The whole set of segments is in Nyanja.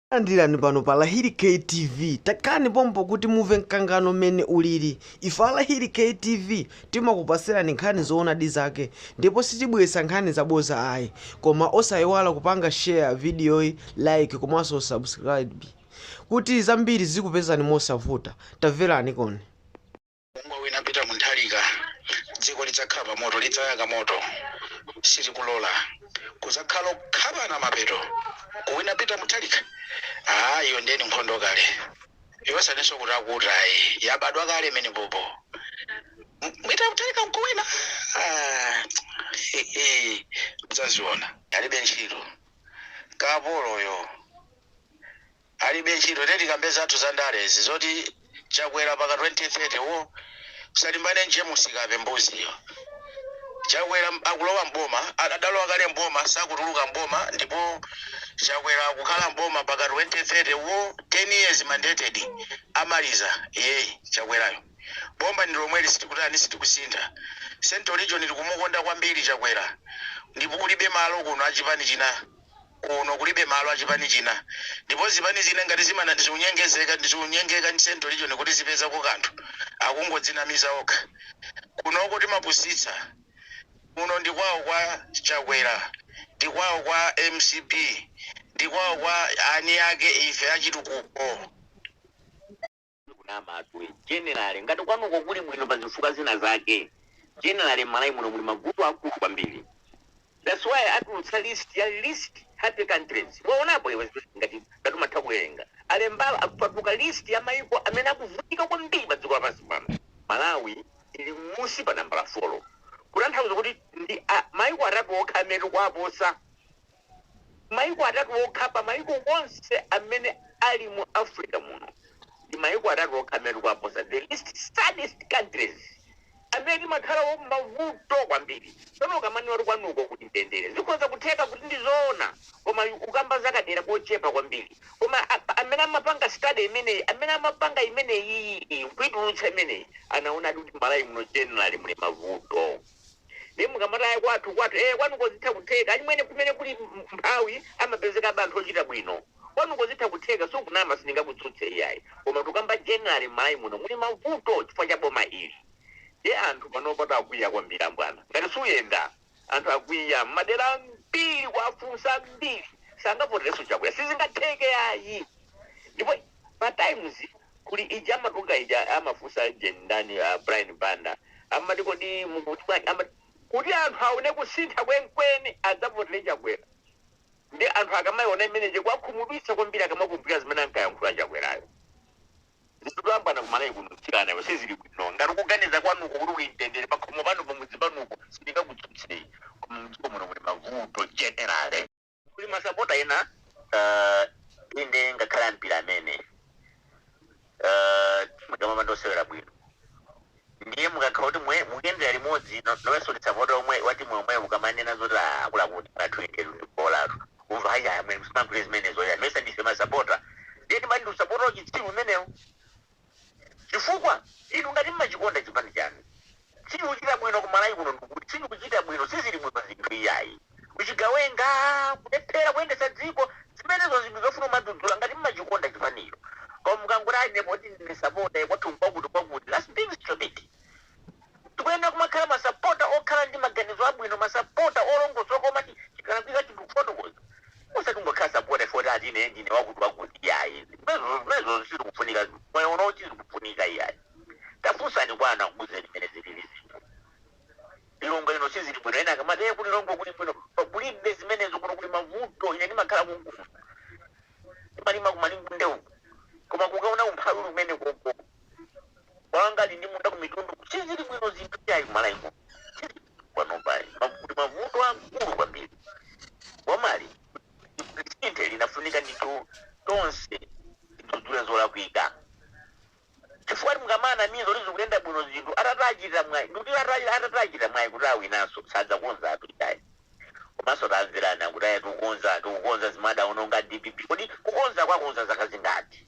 Talandirani pano pa Lahiri K TV. Takhalani pompo kuti mumve mkangano mmene ulili. Ife a Lahiri K TV timakupatsirani nkhani zoonadi zake ndipo sitibweretsa nkhani zabodza ayi. Koma osaiwala kupanga share videoyi, like komanso subscribe kuti zambiri zizikupezani mosavuta. Tamveraniko. Ungawina Peter Mutharika dziko lidzakhala pa moto lidzayaka moto sitikulola kuzakhala kukhapana mapeto kuwina Peter Mutharika aa iyo ndiye ndi nkhondo kale osatinso kuti akuti ayi yabadwa kale imene pompo M- Peter Mutharika nkuwina Ah, mudzaziona alibe ntchito kapoloyo Alibe ntchito ndiye tikambe zathu za ndale izi zoti chakwera mpaka 2030 woo usalimbane ndi jemus kape mbuzi iyo chakwera akulowa mboma adalowa kale mboma sakutuluka mboma ndipo chakwera akukhala mboma mpaka 2030 woo 10 years mandated amaliza iyeyu chakwerayo boma ndilomweli sitikutani sitikusintha central region tikumukonda kwambiri chakwera ndipo kulibe malo kuno achipani china kuno kulibe malo a chipani china ndipo zipani zina ngati zimana zikunyengezeka zikunyengeka ndi central region kuti zipezako kanthu akungodzinamiza okha kunoko timapusitsa kuno ndi kwao kwa chakwera ndi kwao kwa mcp ndi kwao kwa ani ake ife achitukuko kunama atule generally ngati kwanuko kuli bwino pa zifukwa zina zake generally mmalawi muno muli mavuto akulu kwambiri that's why atulutsa list ya least happy countries waonapo iwe ngati ngati umatha kuwerenga alembawo atulutsa list ya maiko amene akuvutika kwambiri pa dziko lapansi pano malawi ili mmusi pa nambala folo kutanthauza kuti ndi a- maiko atatu okha amene tikuwaposa Maiko atatu okha pa maiko onse amene ali mu Africa muno ndi maiko atatu okha amene tikuwaposa, the least saddest countries, amene timakhala mmavuto kwambiri. Tsono ukamanena kuti kwanuko kuli mtendere zikhoza kutheka kuti ndi zoona koma ukamba za kadera kochepa kwambiri koma amene amapanga study imeneyi, amene amapanga imeneyiyi nkuitulutsa imeneyi anaonadi kuti Mmalawi muno generally muli mavuto. Ndiye mukamati ayi kwathu kwathu ee kwanuko zitha kutheka achimwene kumene kuli umphawi amapezekabe anthu ochita bwino kwanuko zitha kutheka sukunama sindingakutsutse iyayi koma tikukamba generally mmalawi muno muli mavuto chifukwa cha boma ili ndiye anthu panopa takwiya kwambiri ambwana ngati suyenda anthu akwiya mmadera ambiri kuwafunsa ambiri sangavoterenso chakwera sizingatheke iyayi ndipo Pa times clip ija imatuluka ija amafunsa ajeni ndani a Brian Banda amati kodi mukuti bwanji amati kuti anthu aone kusintha kwenkweni adzavotele Chakwera nde anthu akamaiona imene ija ikuwakhumudwitsa kwambiri akamakumbukira zimene ankayankhula Chakwerayo zinthu zitavutana ku Malawi kuno mtsikana iwe sizili bwino ngati ukuganiza kwanuko kuti kuli mtendere pakhomo panu pamudzi panupo sindingakutsutseyi koma mdziko muno muli mavuto generally. kuli masapota ena uh, inde ngakhale a mpira amene uh, mukamapanda kusewera bwino ndiye mukakhala kuti mwe- mukuyendera limodzi no- nawonso ndi sapota omwe wa timu yomweyo mukamanena zoti "Ah, akutiakuti athu inde bolatu umva haya mwe msimagule zimenezo ya nayesa ndife masapota ndiye timati ndi usapota wauchitsiru umenewo Chifukwa, inu ngati mmachikonda chipani chanu, sichikuchita bwino ku Malawi kuno, ndikuti sichikuchita bwino, sizili bwino zinthu iyayi. Uchigawenga, kulephera kuyendetsa dziko, zimenezo zinthu zofuna kumadzudzula ngati mmachikonda chipanicho. Koma mukangoti ayi ine poti ndine supporter, kwathu nkwakuti kwakuti, that's being stupid. Tikuyenera kumakhala masapota okhala ndi maganizo abwino, masapota olongosoka omati chikalakwika chinthu kufotokoza. Osati kungokhala sapota chifukwa choti ati ine ndine wakuti wakuti iyayi. Zimenezo zimenezo sizikufunika. Moyo uwu siukufunika iyayi. Tafunsani kwa anthu akuuzeni mmene zilili zinthu. Lilongwe lino sizili bwino. Ena akamati eh ku Lilongwe kuli bwino. Pa- Kulibe zimenezo kuno kuli mavuto. Ine ndimakhala konkuno. Ndimalima ku Malingunde uku. Koma kukaona umphawi uli kumeneko. wanga ali ndi munda ku Mitundu sizili bwino zinthu iyayi ku Malawi muno sizili bwino panopayi ma kuli mavuto akulu kwambiri bomali lisinthe linafunika ndithu tonse tidzudzule zolakwika chifukwa choti mukamanamiza kuti zikuyenda bwino zinthu atati achite mwayi ndikuti atati atati achite mwayi kuti awinenso sadzakonza atu iyayi komanso timamva kuti aya tikukonza tikukonza zimene adaononga dpp kodi kukonza kwakonza zaka zingati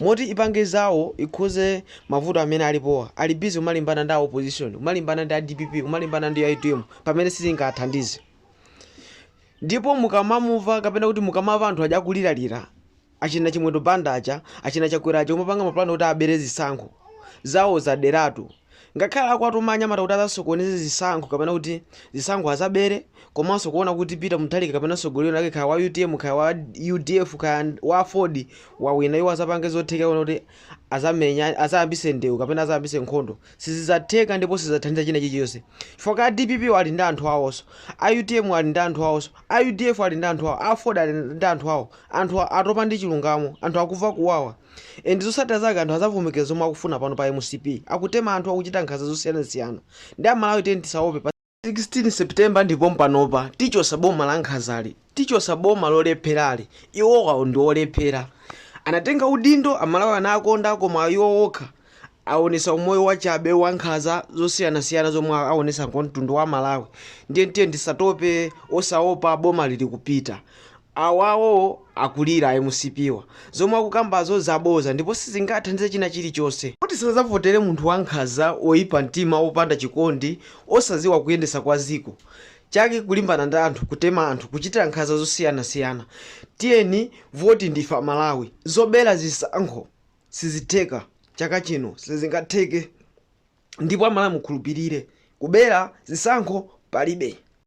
mmalo moti ipange zawo ikonze mavuto amene alipowa ali busy kumalimbana ndi a opposition kumalimbana ndi a dpp kumalimbana ndi utm pamene sizingawathandize ndipo mukamamuva kapena kuti mukamava anthu aja akuliralira achina chimwendo banda aja achina chakwera aja kumapanga mapulani kuti abere zisankho zawo zada eti Ngakhale akuwatuma anyamata kuti azasokoneze zisankho kapena kuti zisankho azabere komanso kuona kuti Peter Mutharika kapena mtsogoleri wina kaya wa utm kaya wa udf kaya wa aford wawina iwo azapange zotheka kuona kuti azamenya azayambise ndewu kapena azayambise nkhondo sizizatheka ndipo sizathandiza china chilichonse chifukwa a dpp ali ndi anthu awonso a utm ali ndi anthu awonso a udf ali ndi anthu awo a aford ali ndi anthu awo anthu atopa ndi chilungamo anthu akuva kuwawa Ndi zosatira zake anthu azavomereza zomwe akufuna pano pa mcp akutema anthu akuchita nkhaza zosiyanasiyana ndiye amalawi tiyeni tisaope pa 16 september ndipo mpanopa tichosa boma la nkhazali tichosa boma lolepherali iwowo ndi olephera anatenga udindo amalawi anawakonda koma iwo okha awonesa umoyo wachabe wankhaza zosiyanasiyana zomwe awonesa kwa mtundu wa Malawi ndiye tiyeni tisatope osaopa bomali likupita awawo akulira a mcp-wa zomwe akukambazo zaboza ndipo sizingathandize china chilichose kuti sazavotera munthu wankhaza oyipa mtima opanda chikondi osaziwa kuyendesa kwa ziko chake kulimbana ndi anthu kutema anthu kuchitira nkhaza zosiyanasiyana tiyeni voti ndife amalawi zobera zisankho sizitheka chaka chino sizingatheke ndipo amalawi mukhulupilire kubera zisankho palibe.